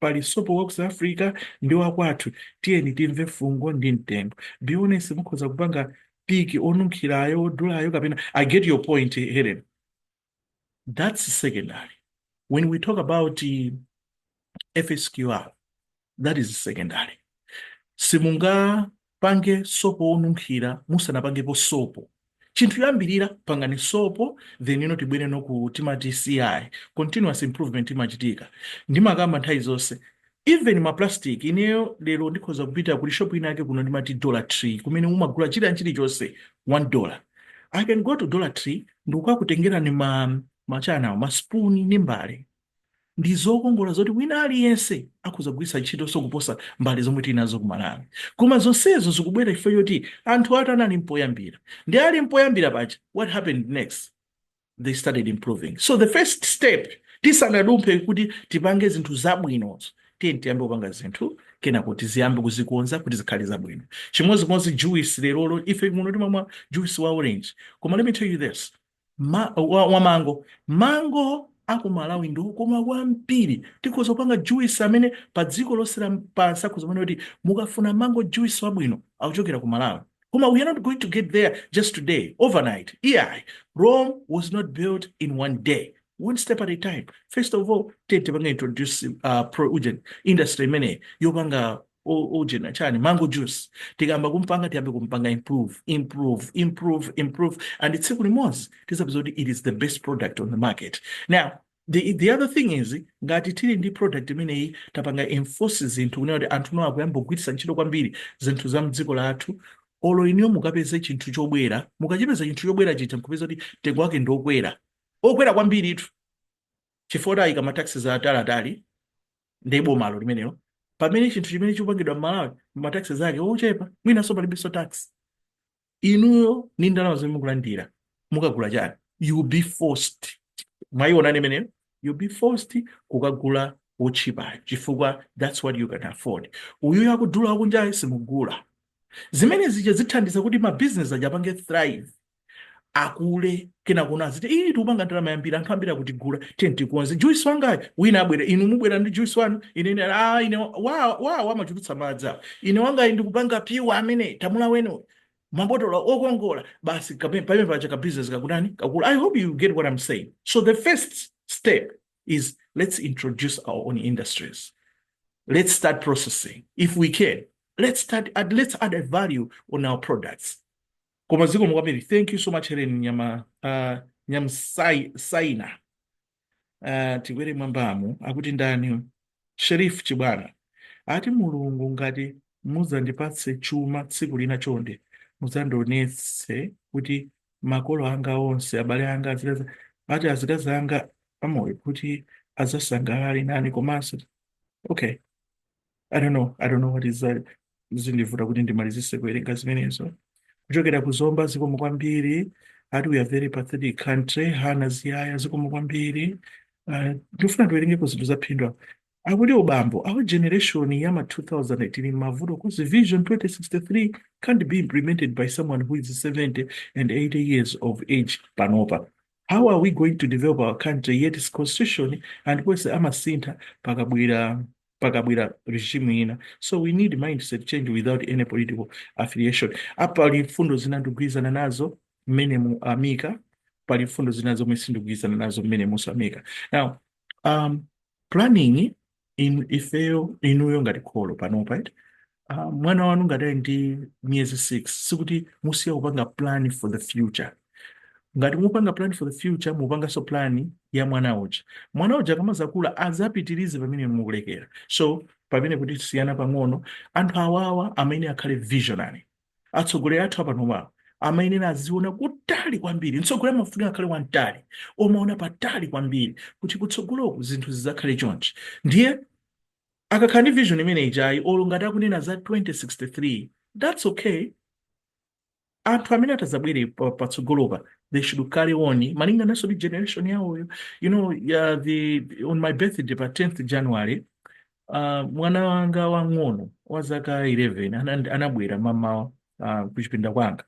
pali sopo wa ku south africa ndi wakwathu tiyeni timve fungo ndi mtengo be honest mukhoza kupanga pick onunkhirayo odulayo kapena i get your point helen that's secondary when we talk about uh, fsqr that is secondary simunga Pange sopo wonunkhira musanapangepo sopo. Chinthu choyambirira pangani sopo then you know tibwere ano ku timati CI continuous improvement imachitika. Ndimakamba nthawi zonse even ma plastic ineyo lero ndikhoza kupita kuli shop ina yake kuno ndimati Dollar Tree kumene mumagula chilian chilichonse 1 dollar. I can go to Dollar Tree ndikukakutengerani ma chaniwo ma spoon ndi mbale. ndi zokongola zoti wina aliyense akhoza kugwiritsa ntchitonso kuposa mbale zomwe tili nazo ku Malawi. Koma zonsezo zikubwera chifukwa choti anthu atani anali mpoyambira. Ndi ali mpoyambira pa- what happened next? They started improving. So the first step, tisanadumphe kuti tipange zinthu zabwinozo, tiyeni tiyambe kupanga zinthu kenako tiziyambe kuzikonza kuti zikhale zabwino. Chimodzimodzi juice lerolo, ife muno timamwa juice wa orange. Koma let me tell you this, Ma, wa, wa mango mango aku malawi ndi okoma kwambiri tikhoza kupanga juice amene pa dziko lonse lapansi akhoza kumanena kuti mukafuna mango juice wabwino akuchokera ku malawi koma we are not going to get there just today overnight iyayi rome was not built in one day one step at a time first of all titapanga introduce uh, pro ujeni industry imeneyi yopanga u- uje na chani mango juice tikayamba kumpanga tiyambe kumpanga improve improve improve improve and tsiku limodzi tizapeza kuti it is the best product on the market now the, the other thing is ngati tili ndi product imeneyi tapanga enforce zinthu kunena kuti anthu now akuyamba kugwiritsa ntchito kwambiri zinthu za mdziko lathu olo inuyo mukapeze chinthu chobwera mukachipeza chinthu chobwera chija mkupeza kuti mtengo wake ndi okwera okwera kwambiritu chifukwa ayika mataxes atalatali ndiye bomalo limenelo pamene chinthu chimene chikupangidwa m'malawi mataxes ake ochepa mwinanso palibenso tax inuyo ndi ndalama zimene mukulandira mukagula chani you'll be forced mwayiona imeneyo you'll be forced kukagula wotchipayo chifukwa that's what you can afford uyuyo wodula wakunjayo simugula zimene zija zithandiza kuti mabizinesi aja apange thrive akule kenako naye aziti ii tikupanga ndalama yambiri anthu ambiri akutigula tiye tikonze juice wangayu wina abwere inu mubwera ndi juice wanu ine ine ah ine wa wa amachulutsa madzi ine wangayu ndikupanga pure amene tamulaweni mabotolo okongola basi kape- pamene paja ka business kakutani kakula i hope you get what i'm saying so the first step is let's introduce our own industries let's start processing if we can let's start add, let's add a value on our products Koma zikomo kwambiri. Thank you so much Helen Nyama uh, Nyamsaina. Uh, tikwere m'mwambamu akuti ndani Sheriff Chibwana ati Mulungu ngati mudzandipatse chuma tsiku lina chonde mudzandionetse kuti makolo anga onse abale anga azikazi ati azikazi anga amoyo kuti adzasangalale nane komanso okay i don't know i don't know what is that zikundivuta kuti ndimalizise kuwerenga zimenezo kuchokera ku zomba zikomo kwambiri ati we are a very pathetic country hana ziyaya zikomo kwambiri uh, ndifuna tiwerengeko zinthu zaphindu apa akuti abambo our generation ya ma 2018 mavuto cause vision 2063 can't be implemented by someone who is 70 and 80 years of age panopa how are we going to develop our country yet its constitution ndiponso amasintha pakabwera pakabwera regime ina so we need mindset change without any political affiliation ah pali mfundo zina ndikugwirizana nazo mmene mu amika pali mfundo zina zomwe sindikugwirizana nazo mmene musamika now um, planning ifeyo inuyo ngati kholo panopa eti uh, mwana wanu ngati ali ndi miyezi 6 sikuti musiya kupanga plan for the future ngati mupanga plan for the future mupanganso plan ya mwana uja mwana uja akamazakula azapitirize pamene mukulekera so pamenepo tisiyana pang'ono anthu awawa amene akhale visionary atsogoleri athu apanopa amayenera aziona kutali kwambiri mtsogoleri amafunika akhale wamtali omaona patali kwambiri kuti kutsogoloku zinthu zidzakhale chonchi ndiye akakhala ndi vision imene ijayi olo ngati akunena za 2063 that's okay anthu amene atadzabwere pa- patsogolopa they should carry on malinganaso ndi generation yawoyo you know uh, the on my birthday pa 10th january uh, mwana wanga wang'ono wa zaka 11 ana- anabwera mamawa uh, kuchipinda kwanga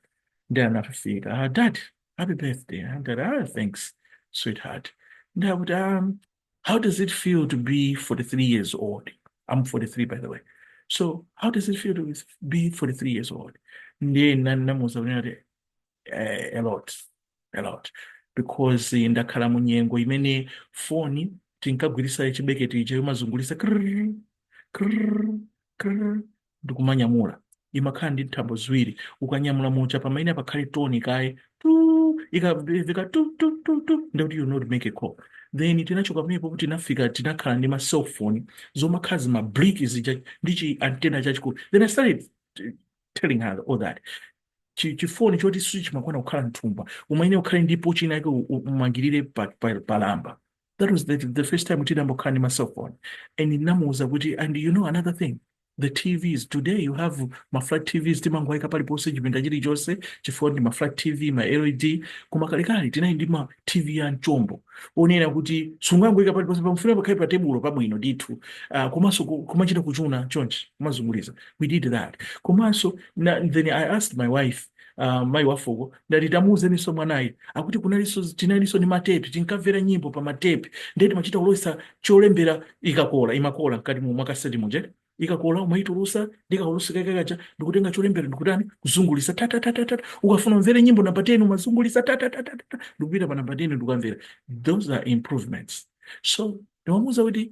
nde anafika ah, dad happy birthday ndati ah, thanks sweetheart nde akuti um, how does it feel to be 43 years old i'm 43 by the way so how does it feel to be 43 years old ndiye nani namuuza kuti eh, a lot a lot because eh, ndakhala mu nyengo imene foni tinkagwiritsa chibeketi chija chomazungulitsa krrr, krrr, krrr, ndikumanyamula imakhala ndi nthambo ziwiri ukanyamula umayenera pakhale toni kaye tu ikamveka tu tu tu tu ndikuti you cannot make a call then tinachoka pamenepo tinafika tinakhala ndi ma cell phone zomakhala zi ma brick zija ndi chi antenna chachikulu then i started eh, telling her all that chi- chifoni choti sichimakwana kukhala mthumba umayenera kukhala ndi pouch ina yake umangirire pa, pa, pa lamba that was the, the first time tidayamba kukhala ndi ma cell phone and ndinamuwuza kuti and you know another thing the tvs today you have ma flat tvs timangoyika paliponse chipinda chilichonse chifukwa ndi ma flat tv ma led koma kalekale tinali ndi ma tv a mchombo onena kuti sungangoyika paliponse pamafuna pakhale pa tebulo pabwino ndithu uh, komanso ku- kumachita kuchuna chonchi kumazunguliza we did that komanso na, then i asked my wife uh, mayi wafuko ndati tamuuzeniso mwanayi akuti kunaliso tinaliso ndi matepi tinkamvera nyimbo pa matepi ndiye timachita kulowesa cholembera ikakola imakola mkati mu makaseti muje ikakola umaitulusa ndikukolola kakakaja ndikutenga cholembera ndikutani kuzungulisa tatatatata ukafuna umvere nyimbo namba 10 umazungulisa tatatatata ndikupita pa namba 10 ndikumvera those are improvements so ndimamuuza kuti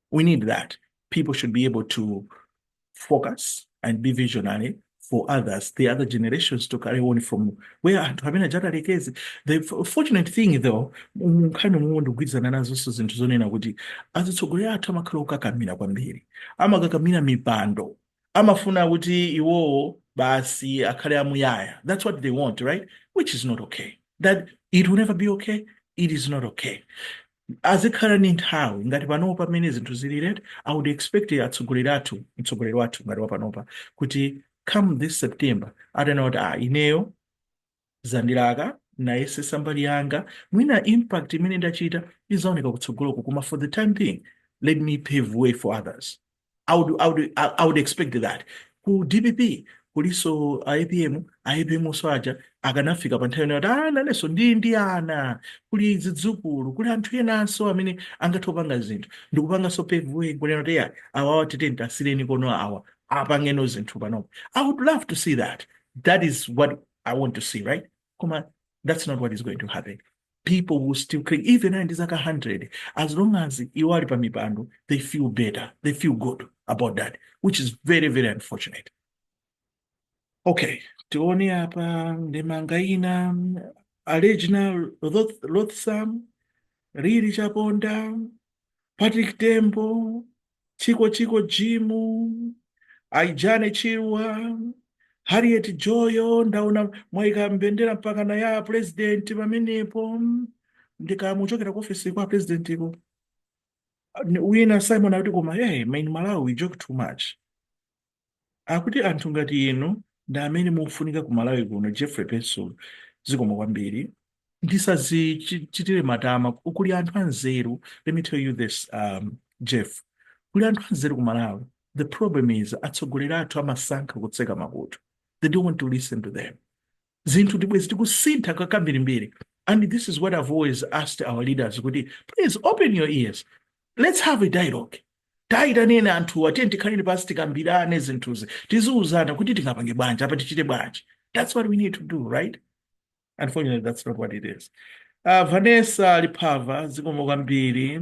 We need that. People should be able to focus and be visionary for others, the other generations to carry on from where anthu amene aja atalekeze. The f- fortunate thing though, mu nkhani momwe ndikugwirizana nazonso zinthu zonena kuti azitsogoleri athu amakhala okakamira kwambiri, amakakamira mipando, amafuna kuti iwowo basi akhale amuyaya. That's what they want, right? Which is not okay. That it will never be okay. It is not okay. azikhala ndi nthawi ngati panopa mmene zinthu zilili eti i would expect atsogoleri athu mtsogoleri wathu ngati wapanopa kuti come this September atanena kuti ah ineyo zandilaka ndayesetsa mbali yanga mwina impact imene ndachita izaoneka kutsogoloko koma for the time being let me pave way for others I would, I would, I I would expect that ku dpp kulinso a apm a apm onso aja akanafika pa nthawi yonena kuti "Ah, nanenso ndi ndi ana kuli zidzukulu kuli anthu enanso amene angathe kupanga zinthu ndikupanganso pave way kunena kuti ya awa awa titenti asiyireni konko awa apangeno zinthu panopo i would love to see that that is what i want to see right koma that's not what is going to happen people will still claim even ali ndi zaka 100 as long as iwo ali pa mipando they feel better they feel good about that which is very very unfortunate okay tione apa ndemanga ina alegina Roth- rothsam riri chaponda patrick tembo Chiko Chiko Jimu, Aijane Chirwa, Harriet Joyo, ndaona mwaika mbendera mpaka na ya president pamenepo ndikanachokera ku office kwa a president uko wina Simon akuti koma hey, my Malawi we joke too much akuti anthu ngati inu ndi amene mukufunika ku Malawi kuno Jeffrey Pensulo zikomo kwambiri ndisazichitire matama kuli anthu anzeru let me tell you this um, Jeff kuli anthu anzeru ku Malawi the problem is atsogoleri athu amasankha kutseka makutu they don't want to listen to them zinthu zibwezi tikusintha kwambirimbiri and this is what i've always asked our leaders kuti please open your ears let's have a dialogue tayitaneni anthuwa tiyeni tikhaleni pansi tikambirane zinthuzi tiziuzana kuti tingapange bwanji apa tichite bwanji that's what we need to do right unfortunately that's not what it is uh, vanessa lipava zikomo kwambiri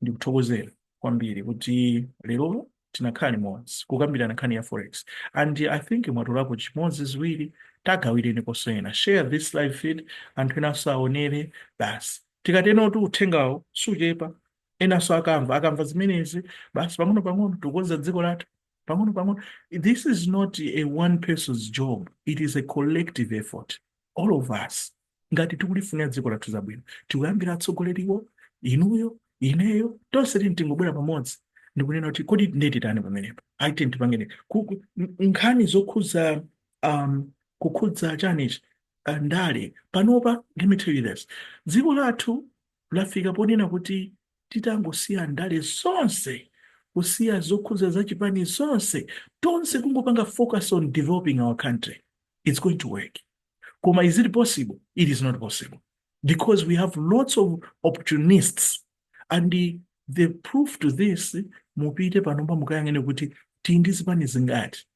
ndikuthokozera kwambiri kuti lero tinakhala limodzi kukambirana nkhani ya forex and i think mwatolapo chimodzi ziwiri tagawireni konso ena share this live feed anthu enanso aonere basi tikatenotu uthengawo suchepa enanso akamva akamva zimenezi basi pang'ono pang'ono tikukonza dziko lathu pang'ono pang'ono this is not a one person's job it is a collective effort all of us ngati tikulifunira dziko lathu zabwino tikuyambira atsogoleriwo inuyo ineyo tonse tini tingobwera pamodzi ndikunena kuti kodi nde titani pamenepo ayi tini tipangene Ku- ku- n- nkhani zokhudza um, kukhudza chanichi uh, ndale panopa let me tell you this dziko lathu lafika ponena kuti titangosiya ndale zonse kusiya zokhudza za chipani zonse tonse kungopanga focus on developing our country it's going to work koma is it possible it is not possible because we have lots of opportunists and the, the proof to this mupite panopa mukayang'ane kuti tili ndi zipani zingati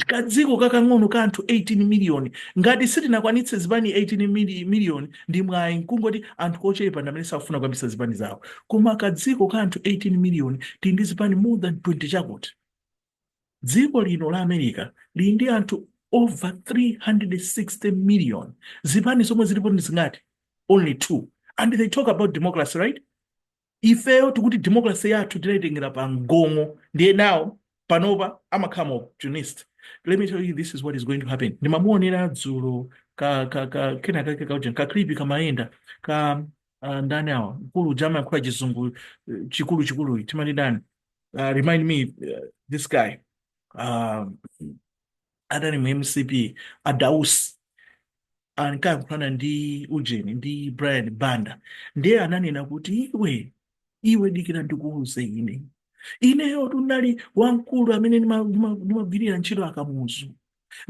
kadziko kakang'ono ka anthu 18 miliyoni ngati sitinakwanitse zipani 18 mili- miliyoni ndi mwayi nkungoti anthu ochepa ndi amene sakufuna kuyambitsa zipani zawo koma kadziko ka anthu 18 miliyoni tili ndi zipani more than 20 chakuti dziko lino la america lili ndi anthu over 360 million zipani zomwe zilipo ndi zingati only two and they talk about democracy right ifeyo tikuti democracy yathu tinaitengera pa mgong'o ndiye nawo panopa amakhala ma opportunist let me tell you this is what is going to happen ndimamuonera dzulo ka ka ka kena kake kauja ka clip kamayenda ka uh, ndani awa mkulu uja amayankhula chizungu eh, chikulu chikulu timati ndani uh, remind me uh, this guy um, adali mu mcp a Dausi ankayankhulana ndi ujeni ndi brian banda ndiye ananena kuti iwe iwe dikira ndikuuze ine ineyotu ndinali wamkulu amene ndimagwirira ntchito a Kamuzu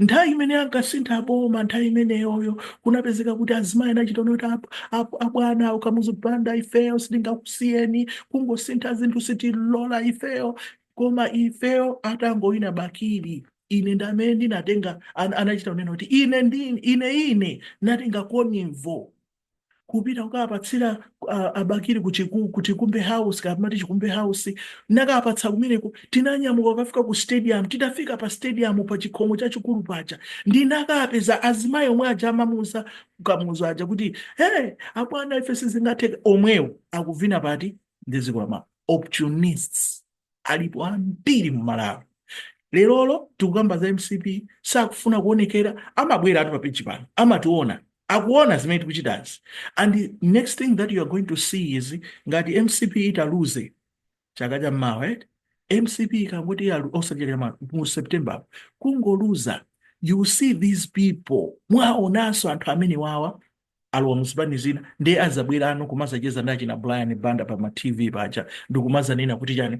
Nthawi imene ankasintha boma nthawi imeneyoyo kunapezeka kuti azimayi anachita kunena kuti abwana a Kamuzu Banda ifeyo sitingakusiyeni kungosintha zinthu sitilola ifeyo koma ifeyo atangowina Bakili ine ndi amene ndinatenga anachita kunena kuti ine ndi ine ine natenga convoy kupita kukawapatsira uh, a Bakili ku chiku ku chikumbe house kapena amati chikumbe house nakawapatsa kumeneko tinanyamuka kukafika ku stadium titafika pa stadium pa chikhomo chachikulu paja ndinakapeza azimayi omwe aja amamuuza Kamuzu aja kuti hey abwana ife sizingatheke omwewo akuvina pati ndi zikwama opportunists alipo ambiri mu Malawi lerolo tikukamba za mcp sakufuna kuonekera amabweratu pa peji pano amationa akuona zimene tikuchitazi and the next thing that you are going to see is ngati mcp italuze chaka cha mmawa right? mcp ikangoti yaluza chaka cha ma- mu september apo, kungoluza you will see these people mwaonanso anthu amenewawa alowa muzipani zina ndiye azabweranso kumazacheza ndi achina Brian Banda pa ma TV paja ndikumazanena kuti chani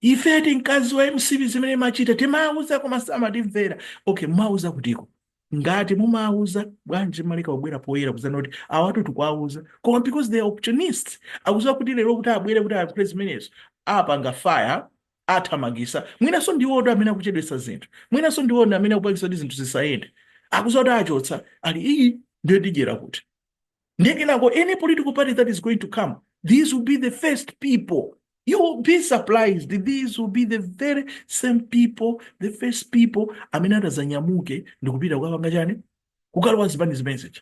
ifetu mkati wa MCP zimene machita timauza koma samatimvera okay mumauza kutiko ngati mumauza bwanji mumaleka kubwera poyera kuzanena kuti awatu tikuwawuza koma because they are opportunists akuziwa kuti lero kuti abwere kuti ayankhule zimenezo apanga fire atithamangisa mwinaso ndiwotu amene akuchedwesa zinthu mwinaso ndiwo amene akupangisa kuti zinthu zisayende akuziwa kuti achotsa ali iii ndiye tidyera kuti ndiye kenako any political party that is going to come these will be the first people you will be surprised these will be the very same people the first people amene atazanyamuke ndikupita kukapanga chani kukalowa zipani zimene zija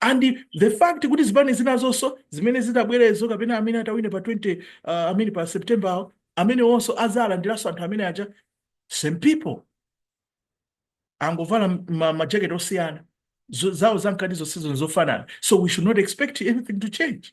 and the fact kuti zipani zinazonso zimene zitabwerezo kapena amene atawine pa 20 uh, amene pa september awo amenewonso azalandiranso anthu amene aja same people angovala majaketi osiyana zawo zamkati zonsezo nzofanana so we should not expect anything to change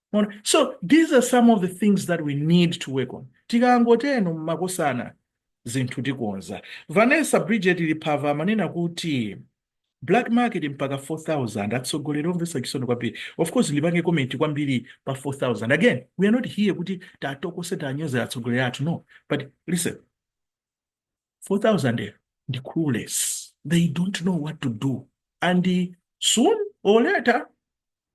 Mwaona? so these are some of the things that we need to work on tikangoteno makosana zinthu tikonza vanessa bridget liphava amanena kuti black market mpaka 4000 atsogoleri omvesa chisoni kwambiri of course ndipange comment kwambiri pa 4000 again we are not here kuti titokose tinyoze atsogoleri athu no but listen 4000 ndi clueless they don't know what to do and soon or later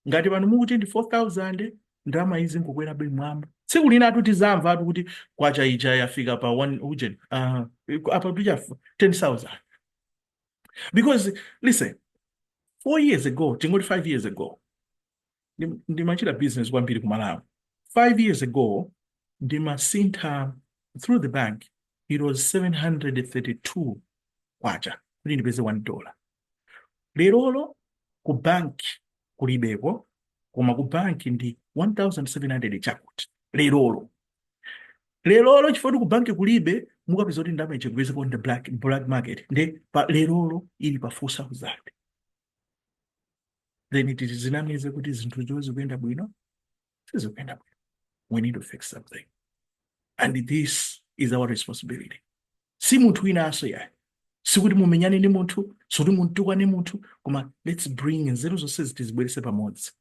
ngati pano mukuti ndi 4000 ndalamayi izingokwerabe m'mwamba tsiku linatu tizamvatu kuti kwacha ija yafika pa 1 ujeni uh, apa paja 10000 because listen four years ago tingoti five years ago ndimachita business kwambiri ku Malawi. Five years ago ndimasintha through the bank it was 732 kwacha kuti ndipeze 1 dollar. Lerolo ku bank kulibeko koma ku bank ndi 1700 chakuti lerolo. Lerolo chifukwa ku bank kulibe mukapeza kuti nde muchigwezeko on the black, black market nde pa lerolo ili pa 4000. then tisazinamize kuti zinthuzo zikuyenda bwino sizikuyenda bwino we need to fix something and this is our responsibility si munthu winanso yayi sikuti mumenyane ndi munthu sikuti mumtukwane munthu koma let's bring nzeru zonse tizibwerese pamodzi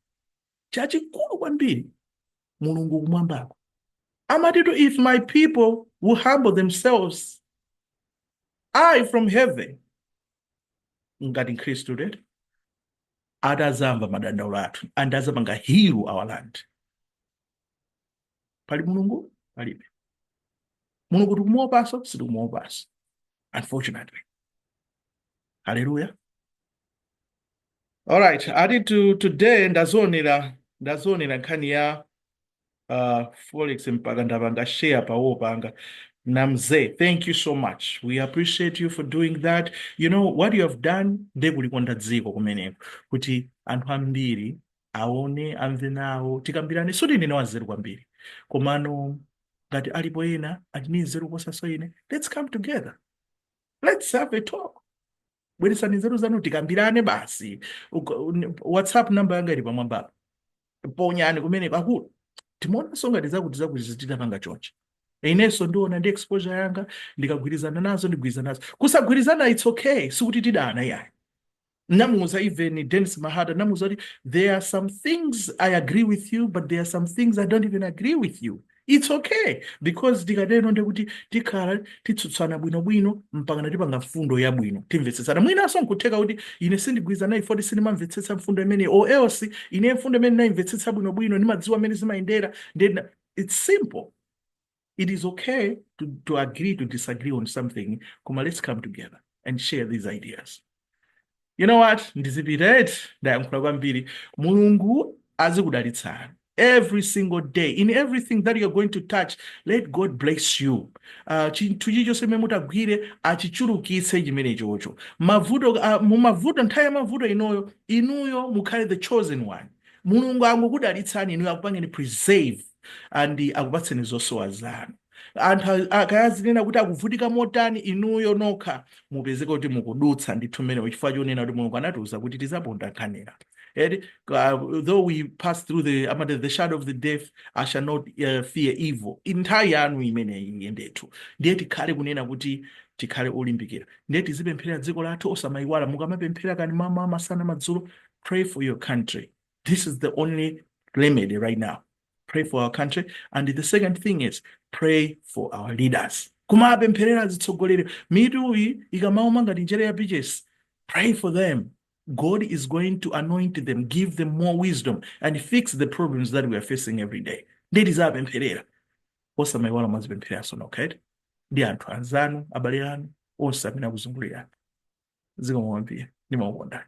chachikulu kwambiri mulungu kumwambako amatitu if my people will humble themselves i from heaven ngati mkhristu today ati azamva madandaulo athu and azapanga heal our land pali mulungu palibe mulungu tikumuopaso sitikumuopaso unfortunately hallelujah alright ati to, today ndazionera ndazionera nkhani ya uh, forex mpaka ndapanga share pa wall panga namze thank you so much we appreciate you for doing that you know what you have done nde kulikonda dziko kumeneko kuti anthu ambiri aone amve nawo tikambirane soti ndine wanzeru kwambiri komano ngati alipo ena ali ni nzeru kuposaso ine let's come together let's have a talk bweretsani nzeru zanu tikambirane basi Uga- un- whatsapp namba yanga ili pamwambapa ponyani kumene pakulu timaonano ngati zakuti zakuti zititapanga chonchi inenso ndiona ndi exposure yanga ndikagwirizana nazo ndigwirizana nazo kusagwirizana it's okay sikuti tidana yayi namuuza even Dennis Mahata namuuza kuti there are some things i agree with you but there are some things i don't even agree with you it's okay because tikatero nde kuti tikhala tikutsutsana bwinobwino mpakana tipanga mfundo yabwino timvetsetsana mwinanso nkutheka kuti ine sindigwirizana naye poti sindimamvetsetsa mfundo imene or else ine mfundo imene ndayimvetsetsa bwinobwino ndimadziwa mmene zimayendera then it's simple it is okay to, to agree to disagree on something koma let's come together and share these ideas you know what ndizipita eti ndayankhula kwambiri mulungu azikudalitsani every single day in everything that you're going to touch let god bless you uh, chinthu chichonse chimene mutagwire achichulukitse chimene chocho mavuto uh, mumavuto nthawi ya mavuto inoyo inuyo mukhale the chosen one mulungu angokudalitsani inuyo akupangeni preserve and akupatseni zosowa zanu anthu a- akayazinena kuti akuvutika motani inuyo nokha mupezeka kuti mukudutsa ndithu mmenemo chifukwa chonena kuti mulungu anatiuza kuti tizaponda nkhanira eti uh, though we pass through the amati the shadow of the death i shall not uh, fear evil nthawi yanu imeneyi iye ndithu ndiye tikhale kunena kuti tikhale olimbikira ndiye tizipemphera dziko lathu osamayiwala mukamapemphera kaya m'mawa masana madzulo pray for your country This is the only remedy right now. Pray for our country. And the second thing is pray for our leaders. Kumawapempherera azitsogoleri mitu iyi ikamauma ngati njere ya peaches. Pray for them. God is going to anoint them, give them more wisdom, and fix the problems that we are facing every day. Nde tizawapempherera. Osamaiwala muzizipemphereraso inu, okay? Ndi anthu anzanu, abale anu, onse amene akuzungulirani. Zikomo kwambiri. Ndimakukonda.